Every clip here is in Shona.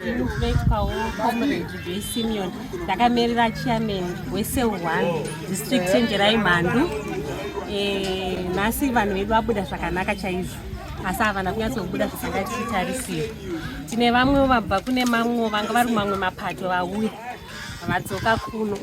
Ndinoitwawo comrade Joy Simeon ndakamirira chairman wesel 1 district chenjerai mhandu eh, nhasi vanhu vedu vabuda zvakanaka chaizvo asi havana kunyatsobuda zvisanga tichitarisira tine vamwewo vabva kune mamwewo vanga vari mamwe mapato vauya vadzoka kuno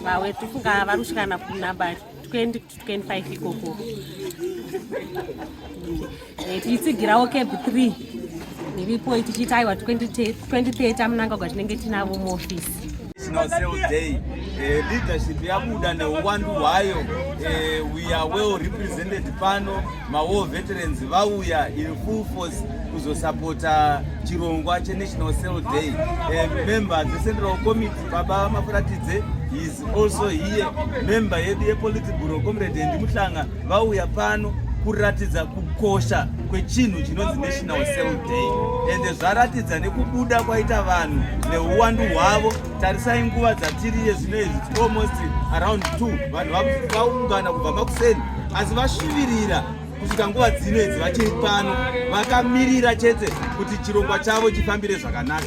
vawe tifunga vari kusvikana kunabati 20 to 25 ikoko eh, tichitsigirawo cab 3 niripo tichiita aiwa 2030 amunangagwa tinenge tinavo muofisi eh, leadership yabuda neuwandu hwayo eh, we are well represented pano mawar veterans vauya in full force kuzosapota chirongwa chenational cell day member dzecentral committee Baba Mafuratidze is also here member yedu yepolitiburo comrade Andy Muhlanga vauya pano kuratidza kukosha kwechinhu chinonzi national cell day ende zvaratidza nekubuda kwaita vanhu neuwandu hwavo tarisai nguva dzatiriye zvino izvi its almost around two vanhu vaungana kubva makuseni asi vasvivirira kusvika nguva dzino idzi vachiri pano vakamirira chete kuti chirongwa chavo chifambire zvakanaka